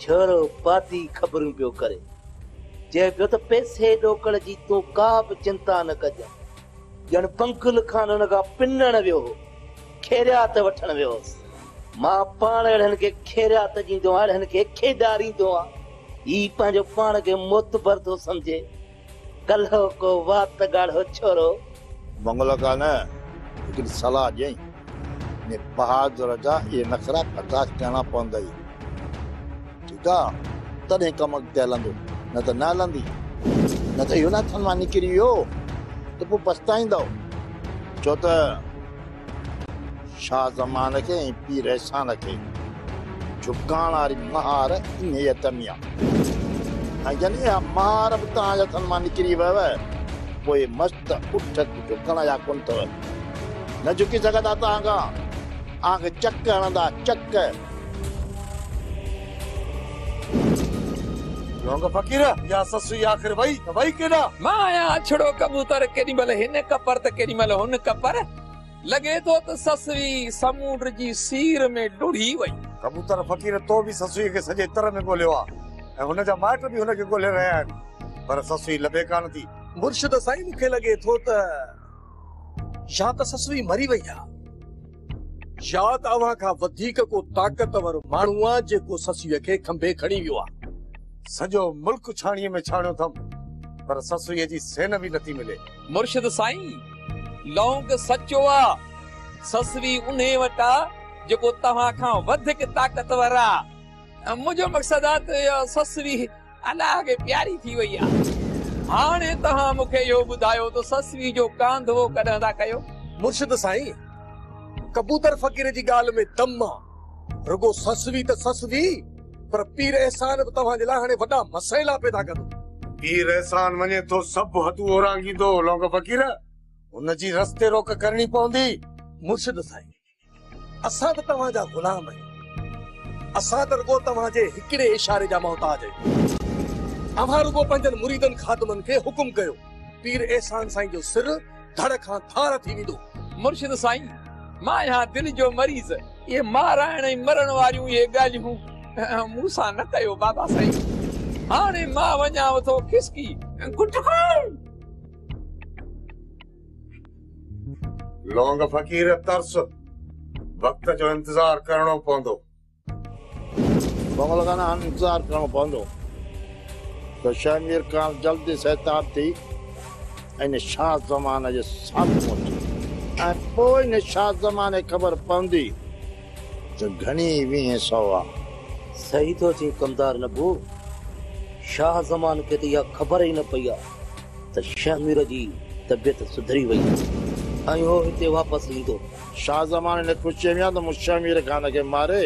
ڇورو پادي خبرون پيو ڪري. چئي پيو ته پئسي ڏوڪڙ جي تون ڪا به چنتا نه ڪجان. ڄڻ پنگل خان هن کان پنڻ ويو هو. خيريات وٺڻ ويو هوس. مان پاڻ اهڙن کي خيريات ڏيندو آهيان، اهڙن کي کيڏاريندو آهيان. هي پنهنجو پاڻ کي معتبر ٿو سمجهي. ڪلهو ڪو وات ڳاڙهو ڇورو. بنگلو ڪا نه ليڪن صلاح ڏيئين. ني بهادر جا اهي نخرا برداشت ڪرڻا پوندئي. ٺيڪ آ تڏهن ڪم اڳتي هلندو نه ته نه هلندي. نه ته اهو نه هٿن مان نڪري ويو ته پوء پڇتائيندؤ. ڇو ته شاهه زمان کي ۽ پير احسان کي جهڪاڻ واري مهار انهيء دميء ۽ جڏهن اها مهار به توهان جي هٿن مان نڪري ويو پوء مست اٺ جهڪڻ جا ڪونه اٿئو نه جهڪي سگهندا توهان کان اوهان کي چڪ هڻندا چڪ لونگ فقير يا سسئي آخر وئي ته وئي ڪيڏا؟ مان آهيان اڇڙو ڪبوتر ڪيڏي مهل هن ڪپر ته ڪيڏي مهل هن ڪپر لڳي ٿو ته سسئي سمونڊ جي سير ۾ ڊوڙي وئي. ڪبوتر فقير تو به سسئي کي سڄي تر ۾ ڳوليو آ ۽ هن جا مائٽ به هن کي ڳولي رهيا آهن پر سسئي لڀي ڪانه ٿي. مرشد سائين مون کي لڳي ٿو ته يا ته سسئي مري وئي آ. ياد اوهان کان وڌيڪ ڪو طاقتور ماڻهو آ جيڪو سسئيء کي کنڀي کڻي ويو آ. سڄو ملڪ ڇاڻيء ۾ ڇاڻيو ٿم پر سسئيء جي سين به نٿي ملي. مرشد سائين لونگ سچو آ. سسئي انهيء وٽ آ جيڪو توهان کان وڌيڪ طاقتور آ. منهنجو مقصد آ ته اها سسئي الله کي پياري ٿي وئي آ. هاڻي توهان مون کي اهو ٻڌايو ته سسوي جو ڪانڌوو ڪڏهن ٿا ڪيو؟ مرشد سائين ڪبوتر فقير جي ڳالهه ۾ دم آ. رڳو سسوي ته سسوي پر پير احسان به توهان جي لاء هاڻي وڏا مسئلا پيدا ڪندو. پير احسان وڃي ٿو سڀ حدون اورانگهيندو لونگ فقير. هن جي رستي روڪ ڪرڻي پوندي. مرشد سائين اسان به توهان جا غلام آهيون. اسان ته رڳو توهان جي هڪڙي اشاري جا محتاج آهيون. اوهان رڳو پنهنجن مريدن خادمن کي حڪم ڪيو. پير احسان سائين جو سر ڌڙ کان ڌار ٿي ويندو. مرشد سائين! مان آهيان دل جو مريض. اهي مارائڻ ۽ مرڻ واريون اهي ڳالهيون مون سان نه ڪيو بابا سائين. هاڻي مان وڃانء ٿو کسڪي. گٽڪو! لونگ فقير ترس وقت جو انتظار ڪرڻو پوندو بابل گانا هن انتظار ڪرڻو پوندو ته شهمير کان جلدي سيتاب ٿي ۽ شاهه زمان جي سامهون پهچي ۽ پوء ان شاهه زمان کي خبر پوندي ته گهڻي ويهين سو آهي صحيح ٿو چين ڪمدار نبو شاهه زمان کي ته اها خبر ئي نه پئي آهي ته شهمير جي طبيعت سڌري وئي ۽ هو هتي واپس ايندو. شاهه زمان هن کي پڇي ويان ته مون شهمير خان کي ماري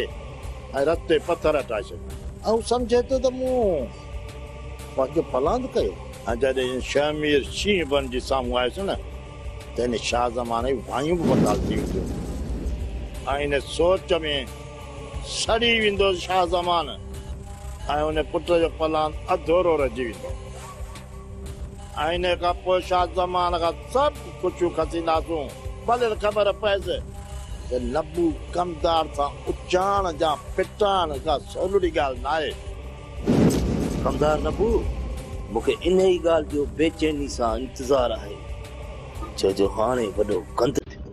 ۽ رٿ تي پٿر هٽائي ڇڏيا. ۽ هو سمجهي ٿو ته مون پنهنجو پلاند ڪيو. ۽ جڏهن شهمير شينهن بڻجي سامهون آيس نه ته هن شاهه زمان جي وايون به بحال ٿي وينديون ۽ هن سوچ ۾ سڙي ويندو شاهه زمان ۽ هن پٽ جو پلاند اڌورو رهجي ويندو. ائين کان پوء شاهه زمان کان سڀ خوشيون کسينداسون. ڀليل خبر پئيس ته نبو ڪمدار سان اچاڻ جا ڦٽاڻ ڪا سولڙي ڳالهه ناهي. ڪمدار نبو، مون کي انهيء ڳالهه جو بي چيني سان انتظار آهي، ڇو جو هاڻي وڏو گند ٿيندو.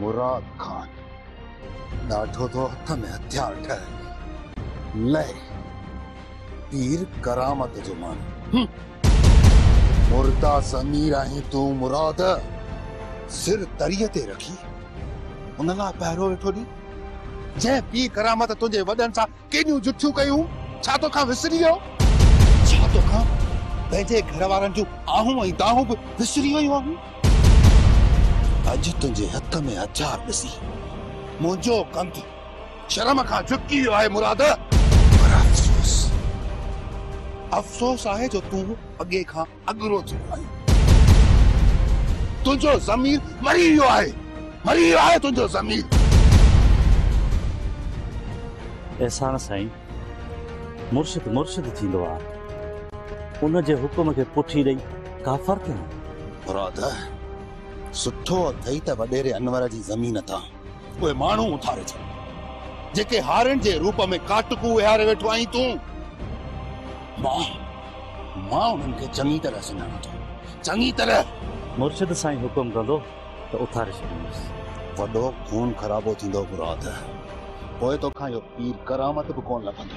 مراد خان ڏاڍو ٿو هٿ ۾ هٿيار ٺهي. لئي! پير ڪرامت جو ماڻهو. مردا ضمير آهين تون مراد. سر تريء تي رکي ان لاء پهرو ويٺو ڏين. جنهن پير ڪرامت تنهنجي وڏن سان ڪيڏيون جٺيون ڪيون ڇا توکان وسري ويو؟ ڇا توکان پنهنجي گهر وارن جون آهون ۽ دانهون به وسري ويون آهن؟ اڄ تنهنجي هٿ ۾ هٿيار ڏسي منهنجو ڪنڌ شرم کان جهڪي ويو آهي مراد. پر افسوس افسوس آهي جو تون اڳي کان اڳرو ٿي ويو آهين. تنهنجو ضمير مري ويو آهي. مري ويو آهي تنهنجو ضمير. احسان سائين مرشد مرشد ٿيندو آ ان جي حڪم کي پٺي ڏئي ڪافر ٿيون. مراد سٺو اٿئي ته وڏيري انور جي زمين تان. اهي ماڻهو اٿاري ڇڏ، جيڪي هارين جي روپ ۾ ڪاٽڪو ويهاري ويٺو آهين تون. مان، مان انهن کي چڱي طرح سڃاڻان ٿو، چڱي طرح. مرشد سائين حڪم ڪندو ته اٿاري ڇڏيندس. وڏو خون خرابو ٿيندو مراد، پوء توکان اهو پير ڪرامت به ڪونه لڀندو.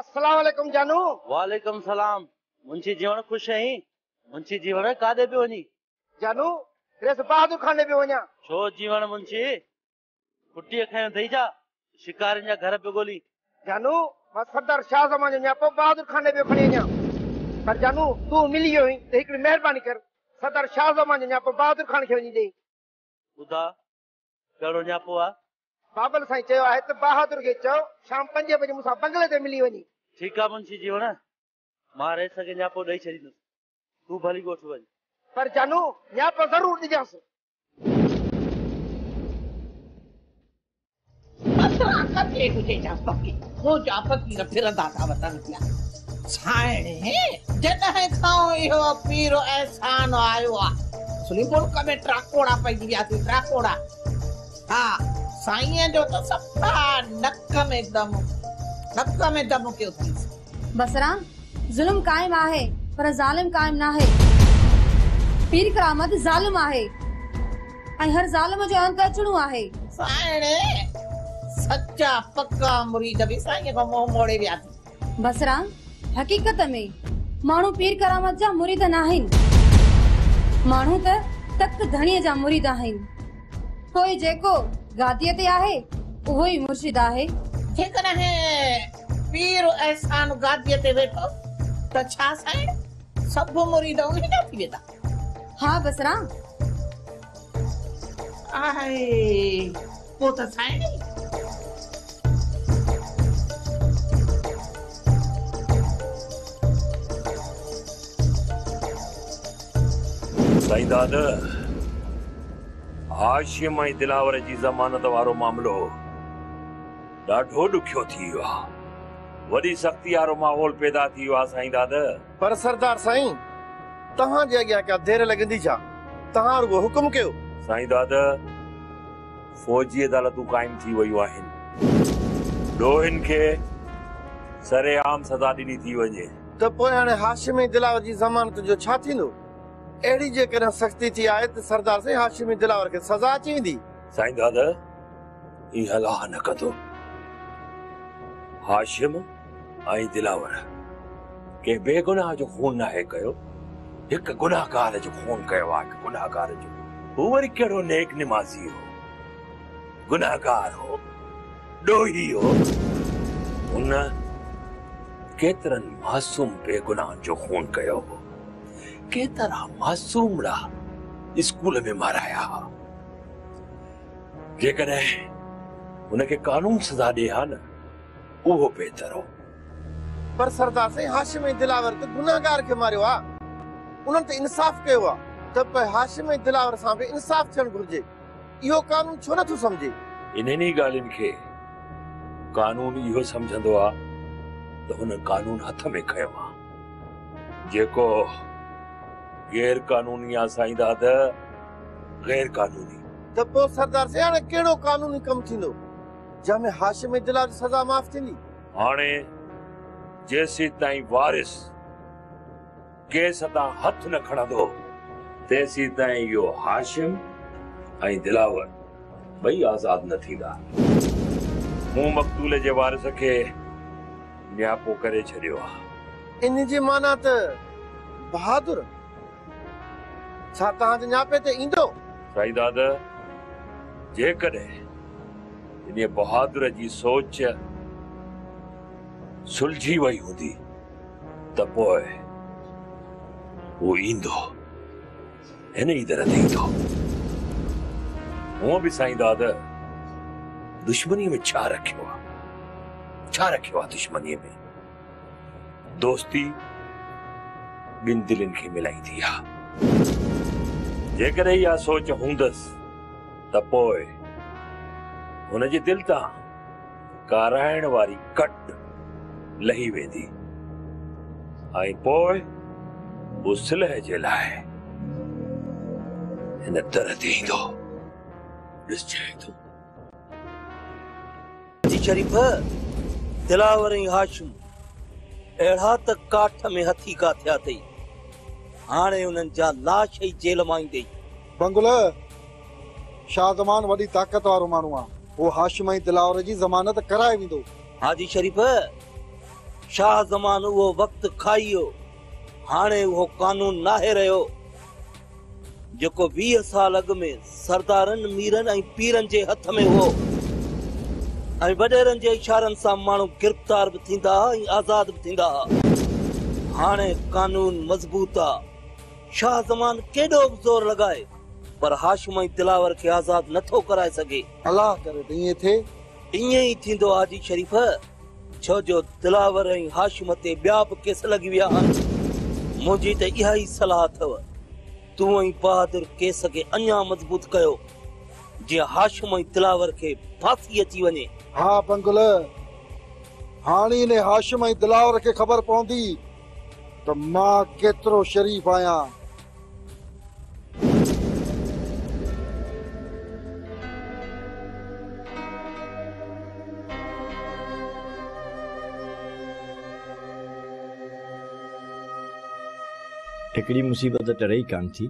السلام عليڪم جانو. وعليڪم سلام منشي جيوڻ خوش اهين منشي جيوڻ ڪاڏي پيو وڃين. جانو ريس بهادر خان ڏي پيو وڃان. ڇو جيوڻ منشي ڦٽي کڻي اٿئي ڇا شڪارين جا گهر پيو ڳولين. جانو مان سردار شاهه زمان جو نياپو بهادر خان ڏي پيو کڻي وڃان پر جانو تون ملي ويو اهين ته هڪڙي مهرباني ڪر سردار شاهه زمان جو نياپو بهادر خان کي وڃي ڏي. ٻڌا ڪهڙو نياپو آ؟ بابل سائين چيو آهي ته بهادر کي چئو شام پنجين بجي مون سان بنگلي تي ملي وڃي. ٺيڪ آ منشي جي هڻ مان رئيس کي نياپو ڏئي ڇڏيندس تون ڀلي ڳوٺ وڃ. پر جانو نياپو ضرور ڏجانس. اسرا قتلي ڪجي جا پڪي مون جا پڪي نه ڦرندا ٿا وتن پيا سائڻي جڏهن کان اهو پير احسان آيو آ سلي ملڪ ۾ ٽراڪوڙا پئجي ويا سي ٽراڪوڙا ها سائين جو ته سپا نڪ ۾ دم نڪ ۾ دم ڪيو ٿي بسرا ظلم قائم آهي پر ظالم قائم ناهي پير ڪرامت ظالم آهي. ۽ هر ظالم جو انت اچڻو آهي. سائڻ سچا پڪا مريد به سائينء کان منهن موڙي ويا ٿي. بصرا، حقيقت ۾ ماڻهو پير ڪرامت جا مريد ناهن. ماڻهو ته تڪ ڌڻيء جا مريد آهن. پوء جيڪو گاديء تي آهي، اهو ئي مرشد آهي. جيڪڏهن پير احسان گاديء تي ويٺو ته ڇا سائڻ، سڀ مريد انهي جا ٿي ويندا. ها بصرا! آهي پوء ته سائڻي! سائين داد! هاشم ۽ دلاور جي ضمانت وارو معاملو ڏاڍو ڏکيو ٿي ويو آهي. وڏي سختي وارو ماحول پيدا ٿي ويو آهي سائين داد! پر سردار سائين! توهان جي اڳيان ڪا دير لڳندي ڇا؟ توهان رڳو حڪم ڪيو. سائين داده! فوجي عدالتون قائم ٿي ويون آهن. ڏوهين کي سرعام سزا ڏني ٿي وڃي. ته پوء هاڻي هاشمي دلاور جي ضمانت جو ڇا ٿيندو؟ اهڙي جيڪڏهن سختي ٿي آهي ته سردار سائين هاشمي دلاور کي سزا اچي ويندي. سائين داده! ائين الاهه نه ڪندو. هاشم ۽ دلاور ڪنهن بيگناهه جو خون ناهي ڪيو، هڪ گناهگار جو خون ڪيو آهي، گناهگار جو، هو وري ڪهڙو نيڪ نمازي هو، گناهگار هو، ڏوهي هو، هن ڪيترن معصوم بيگناهن جو خون ڪيو هو، ڪيترا معصومڙا اسڪول ۾ مارايا ها. جيڪڏهن هن کي قانون سزا ڏئي ها نه اهو بهتر هو. پر سردار سائين هاشم ۽ دلاور ته گنهگار کي ماريو آ انهن ته انصاف ڪيو آ ته پئي هاشم ۽ دلاور سان به انصاف ٿيڻ گهرجي اهو قانون ڇو نه ٿو سمجهي. انهن ئي ڳالهين کي قانون اهو سمجهندو آ ته هن قانون هٿ ۾ کنيو آ. جيڪو غير قانوني آ سائين داده غير قانوني. ته پوء سردار سين هاڻي ڪهڙو قانوني ڪم ٿيندو جنهن ۾ هاشمي دلال جي سزا معاف ٿيندي؟ هاڻي جيسيتائين وارث ڪيس تان هٿ نه کڻندو تيسيتائين اهو هاشم ۽ دلاور ٻئي آزاد نه ٿيندا. مون مقتول جي وارث کي نياپو ڪري ڇڏيو آ. ان جي معنيٰ ته بهادر، ڇا توهان جي نياپي تي ايندو؟ سائين داد، جيڪڏهن انهيء بهادر جي سوچ سلجهي وئي هوندي ته پوء هو ايندو. هن ئي در تي ايندو. هونء به سائين داد دشمنيء ۾ ڇا رکيو آ؟ ڇا رکيو آ دشمنيء ۾؟ دوستي ٻن دلين کي ملائيندي آ. جيڪڏهن اها سوچ هوندس ته پوء هن جي دل تان ڪارائڻ واري ڪٽ لهي ويندي ۽ پوء هو صلح جي لاء هن در تي ايندو ڏسجانء ٿو. جي شريف، دلاور ۽ هاشم اهڙا ته ڪاٺ ۾ هٿي ڪا ٿيا اٿئي، هاڻي انهن جا لاش ئي جيل مان ايندي بنگله شاهه زمان وڏي طاقت وارو ماڻهو آ. هو هاشم ۽ دلاور جي ضمانت ڪرائي ويندو. حاجي شريف، شاهه زمان اهو وقت کائي ويو. هاڻي اهو قانون ناهي رهيو، جيڪو ويهه سال اڳ ۾ سردارن، ميرن ۽ پيرن جي هٿ ۾ هئو ۽ وڏيرن جي اشارن سان ماڻهو گرفتار به ٿيندا ها ۽ آزاد به ٿيندا ها. هاڻي قانون مضبوط آ. شاهه زمان ڪيڏو به زور لڳائي پر هاشم ۽ دلاور کي آزاد نه ٿو ڪرائي سگهي. الله ڪري ته ائين ٿئي. ائين ئي ٿيندو حاجي شريف، ڇو جو دلاور ۽ هاشم تي ٻيا به ڪيس لڳي ويا آهن. منهنجي ته اها ئي صلاح اٿئو. تون ۽ بهادر ڪيس کي اڃا مضبوط ڪيو، جيئن هاشم ۽ دلاور کي ڦاسي اچي وڃي. ها بنگلي، هاڻي انهي هاشم ۽ دلاور کي خبر پوندي ته مان ڪيترو شريف آهيان. هڪڙي مصيبت ٽري ئي ڪانه ٿي.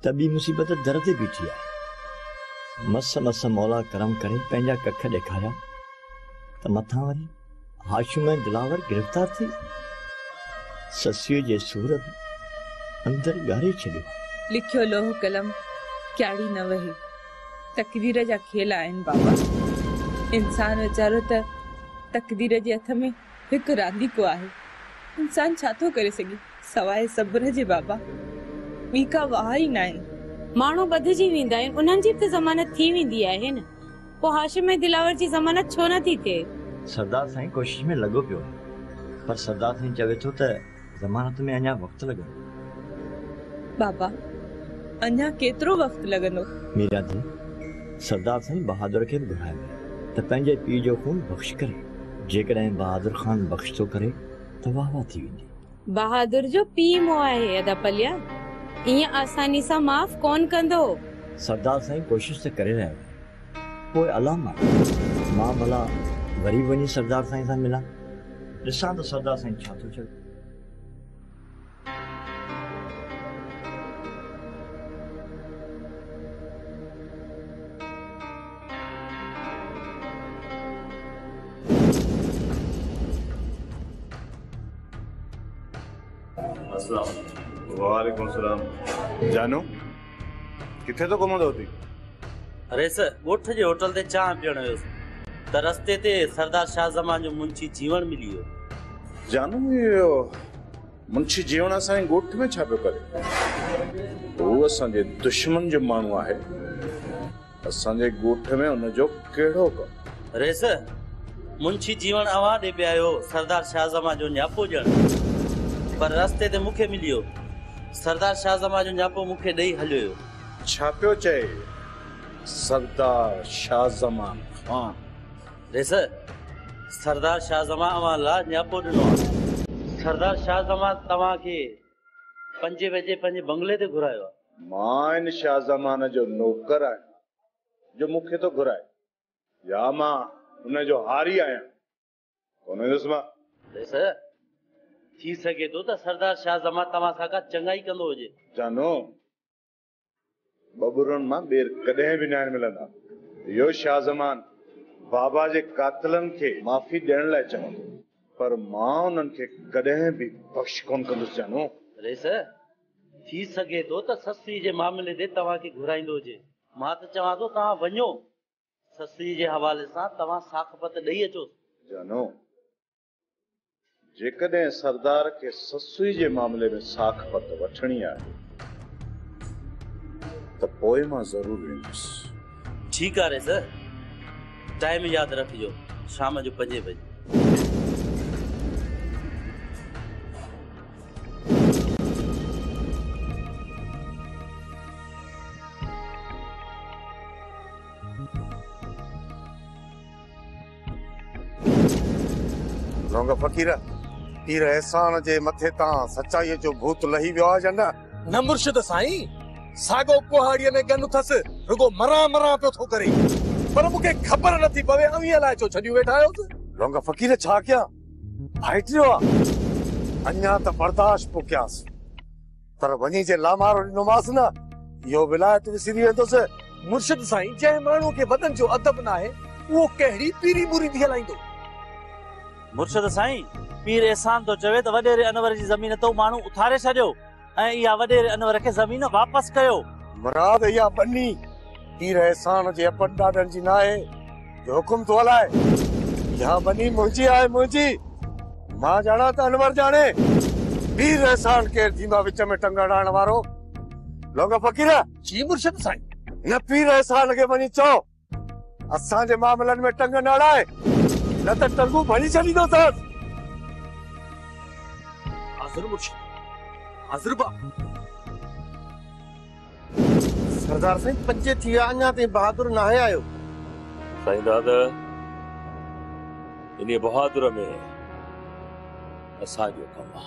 ته ٻي مصيبت در تي بيٺي آ. مس مس مولا ڪرم ڪري پنهنجا ڪک ڏيکاريا ته مٿان وري هاشم ۽ دلاور گرفتار ٿي ويا. سسئي جي سور به اندر ڳاري ڇڏيو آ. لکيو لوح قلم ڪياڙي نه وهي. تقدير جا کيل آهن بابا. انسان ويچارو ته تقدير جي هٿ ۾ هڪ رانديڪو آهي. انسان ڇا ٿو ڪري سگهي سواء صبر جي بابا! ٻي ڪا واهه ئي ناهي. ماڻهو ٻڌجي ويندا آهن، انهن جي به ته ضمانت ٿي ويندي آهي نه. پوء هاشم ۽ دلاور جي ضمانت ڇو نه ٿي ٿئي؟ سردار سائين ڪوشش ۾ لڳو پيو آهي. پر سردار سائين چوي ٿو ته. ضمانت ۾ اڃا وقت لڳندو. بابا، اڃا ڪيترو وقت لڳندو؟ ميرياڌل، سردار سائين بهادر کي به گهرايو آهي ته پنهنجي پيء جو خون بخش ڪري. جيڪڏهن بهادر خان بخش ٿو ڪري ته واه واه ٿي ويندي. بهادر جو پيء مئو آهي ادا پليا، ائين آساني سان معاف ڪونه ڪندو. سردار سائين ڪوشش ته ڪري رهيو آهي، پوء الله مان مان ڀلا وري به وڃي سردار سائين سان ملان، ڏسان ته سردار سائين ڇا ٿو چوي. اسلام عليڪم. وعليڪم اسلام. جانو. ڪٿي ٿو گهمندو ٿي؟ ريس، ڳوٺ جي هوٽل تي چانهه پيئڻ ويس ته رستي تي سردار شاهه زمان جو منشي جيوڻ ملي ويو. جانو، اهو منشي جيوڻ اسان جي ڳوٺ ۾ ڇا پيو ڪري؟ هو اسان جي دشمن جو ماڻهو آهي. اسان جي ڳوٺ ۾ ان جو ڪهڙو ڪم؟ ريس، منشي جيوڻ اوهان ڏي پئي آيو، سردار شاهه زمان جو نياپو ڄڻ، پر رستي تي مون کي مليو. سردار شاهه زمان جو نياپو مون کي ڏئي هليويو. ڇا پيو چئي سردار شاهه زمان خان؟ ريس، سردار شاهه زمان اوهان لا نياپو ڏنو آ. سردار شاهه زمان توهان کي پنجين بجي پنهنجي بنگلي تي گهرايو آ. مان ان شاهه زمان جو نوڪر آهيان جو مون کي ٿو گهرائي يا مان ان جو هاري آهيان؟ ڪونه هوندس مان. بس، ٿي سگهي ٿو ته سردار شاهه زمان توهان سان ڪا چڱائي ڪندو هجي. جانو، ٻٻرن مان ٻير ڪڏهن به ناهن ملندا. اهو شاهه زمان بابا جي قاتلن کي معافي ڏيڻ لاء چوندو، پر مان انهن کي ڪڏهن به بخش ڪونه ڪندس جانو. ريس، ٿي سگهي ٿو ته سسئي جي معاملي تي توهان کي گهرائيندو هجي. مان ته چوان ٿو توهان وڃو سسئي جي حوالي سان توهان ساک پت ڏئي اچوس. جانو، جيڪڏهن سردار کي سسئي جي معاملي ۾ ساک پت وٺڻي آهي ته پوء مان ضرور ويندس. ٺيڪ آهي سر. ٽائيم ياد رکجو شام جو پنجين بجي. لونگ فقير پير احسان جي مٿي تان سچائي جو ڀوت لهي ويو آهي يا نه نه مرشد سائين ساڳو ڪهاڙي ۾ گن اٿس رڳو مران مران پيو ٿو ڪري پر مون کي خبر نٿي پوي اوهين الائي ڇو ڇڏيون ويٺا آهيو لونگ فقير ڇا ڪيان هٽجو آ اڃا ته برداشت پيو ڪيانس پر وڃي جي لامارو ڏنومانس نه اهو ولايت وسري ويندس مرشد سائين جنهن ماڻهو کي وڏن جو ادب ناهي اهو ڪهڙي پيري مريدي هلائيندو. مرشد سائين پير احسان ٿو چوي ته وڏيري انور جي زمين تون ماڻهو اٿاري ڇڏيو. ۽ اها وڏيري انور کي زمين واپس ڪيو. مراد اها ٻني پير احسان جي اپن ڏاڏن جي ناهي جو حڪم ٿو هلائي. اها ٻني منهنجي آهي منهنجي. مان ڄاڻان ته انور ڄاڻي. پير احسان ڪير ٿيندو آهي وچ ۾ ٽنگ اڙائڻ وارو؟ لونگ فقير! جي مرشد سائين. هن پير احسان کي وڃي چئو. اسان جي معاملن ۾ ٽنگ نه اڙاء نه ته ٽنگون ڀڃي ڇڏيندوسانس. حاضر مرشد حاضر با. سردار سائين پنج ٿي ويا اڃا تائين بهادر ناهي آيو. سائين داد انهي بهادر ۾ اسان جو ڪم آ.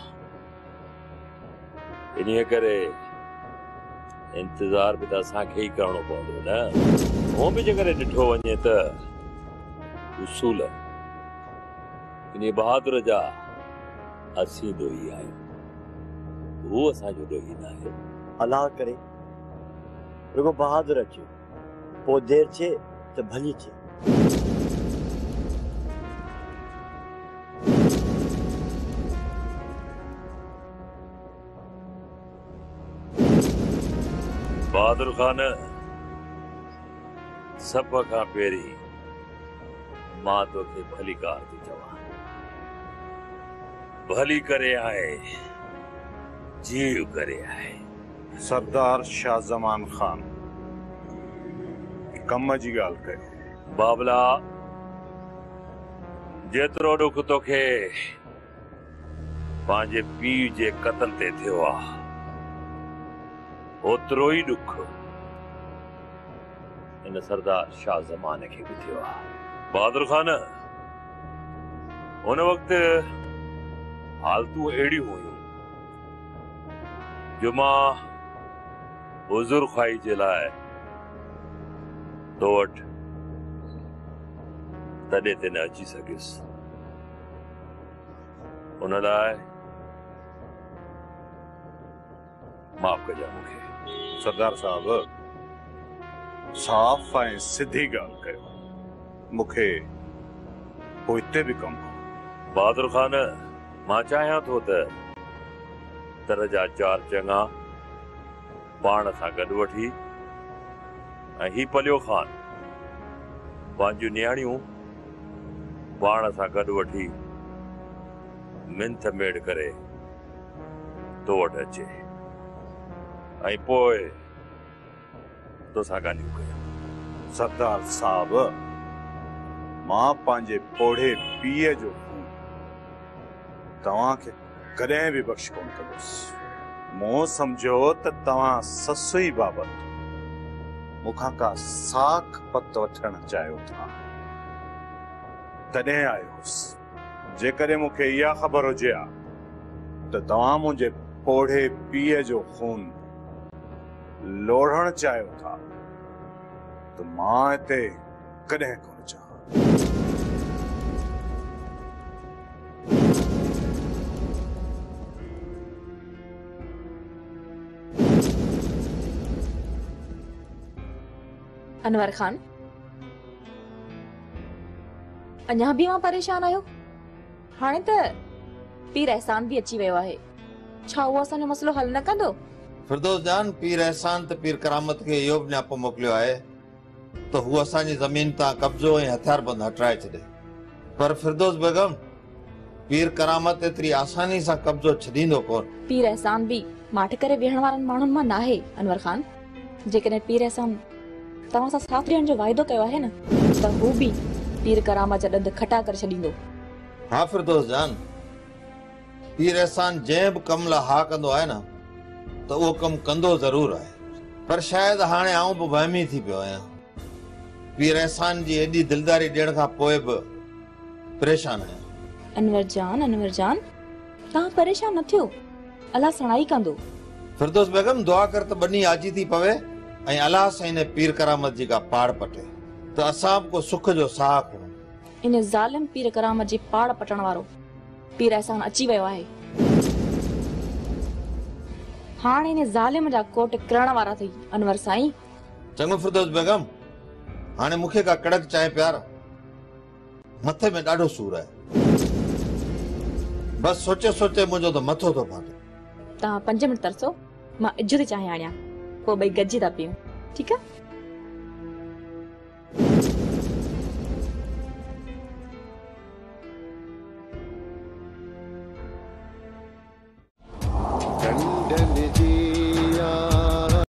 انهيء ڪري انتظار به ته اسان کي ئي ڪرڻو پوندو نه؟ هونء به جيڪڏهن ڏٺو وڃي ته اصول انهيء بهادر جا اسين ڏوهي آهيون. هو اسان جو ڏوهي ناهي. الله ڪري رڳو بهادر اچي. پوء دير ٿئي ته ڀلي ٿئي. بهادر خان! سڀ کان پهرين مان توکي ڀليڪار ٿو چوان. ڀلي ڪري آء جيء ڪري آء. سردار شاھ زمان خان ڪم جي ڳالھ ڪيو. بابلا جيترو ڏک توکي پنهنجي پيء جي قتل تي ٿيو آ اوترو ئي ڏک هن سردار شاھ زمان کي به ٿيو آ. بهادر خان ان وقت حالتون اهڙيون هيون. جمعه حضور خواهي جي لاء تو وٽ تڏهن تي نه اچي سگهيس ان لاء معاف ڪجان مون کي سردار صاحب صاف ۽ سڌي ڳالهه ڪيو مون کي پوء هتي به ڪم هو بهادر خان مان چاهيان ٿو ته تر جا چار چڱا پاڻ سان گڏ وٺي ۽ هي پليو خان پنهنجيون نياڻيون پاڻ سان گڏ وٺي منٿ ميڙ ڪري تو وٽ اچي ۽ پوء توسان ڳالهيون ڪيون. سردار صاحب! مان پنهنجي پوڙهي پيء جو خون توهان کي ڪڏهن به بخش ڪونه ڪندس. مون سمجهيو ته توهان سسئي بابت مون کان ڪا ساک پت وٺڻ چاهيو ٿا. تڏهن آيو هوس. جيڪڏهن مون کي اها خبر هجي ها ته توهان منهنجي پوڙهي پيء جو خون. لوڙهڻ چاهيو ٿا ته مان هتي ڪڏهن ڪونه چاهان. انور خان، اڃا به اوهان پريشان آهيو؟ هاڻي ته پير احسان به اچي ويو آهي، ڇا اهو اسان جو مسئلو حل نه ڪندو؟ فردوس جان، پير احسان ته پير ڪرامت کي اهو به نياپو موڪليو آهي ته هو اسان جي زمين تان قبضو ۽ هٿياربند هٽرائي ڇڏي. پر فردوس بيگم، پير ڪرامت ايتري آساني سان قبضو ڇڏيندو ڪونه. پير احسان به ماٺ ڪري ويهڻ وارن ماڻهن مان ناهي، انور خان. جيڪڏهن پير احسان توهان سان ساٿ ڏيڻ جو واعدو ڪيو آهي نه ته هو به پير ڪرامت جا ڏند کٽا ڪري ڇڏيندو. ها فردوس جان، پير احسان جنهن به ڪم لاء ها ڪندو آهي نه ته اهو ڪم ڪندو ضرور آهي. پر شايد هاڻي آئون به وهمي ٿي پيو آهيان. پير احسان جي ايڏي دلداري ڏيڻ کان پوء به پريشان آهيان. انور جان، انور جان توهان پريشان نه ٿيو. الله سڻائي ڪندو. فردوس بيگم دعا ڪر ته ٻني آجي ٿي پوي ۽ الله سائين ۽ پير ڪرامت جي ڪا پاڙ پٽي ته اسان به ڪو سک جو ساهه کڻون. ان ظالم پير ڪرامت جي پاڙ پٽڻ وارو پير احسان اچي ويو آهي. هاڻ ان ظالم جا ڪوٽ ڪرڻ وارا اٿئي انور سائين. چڱو فردوس بيگم هاڻي مون کي ڪا ڪڙڪ چانهه پيار. مٿي ۾ ڏاڍو سور آهي. بس سوچي سوچي منهنجو ته مٿو ٿو ڦاٽي. توهان پنج منٽ ترسو مان اجهو ٿي چانهه آڻيان پوء ٻئي گڏجي ٿا پيئون ٺيڪ آهي.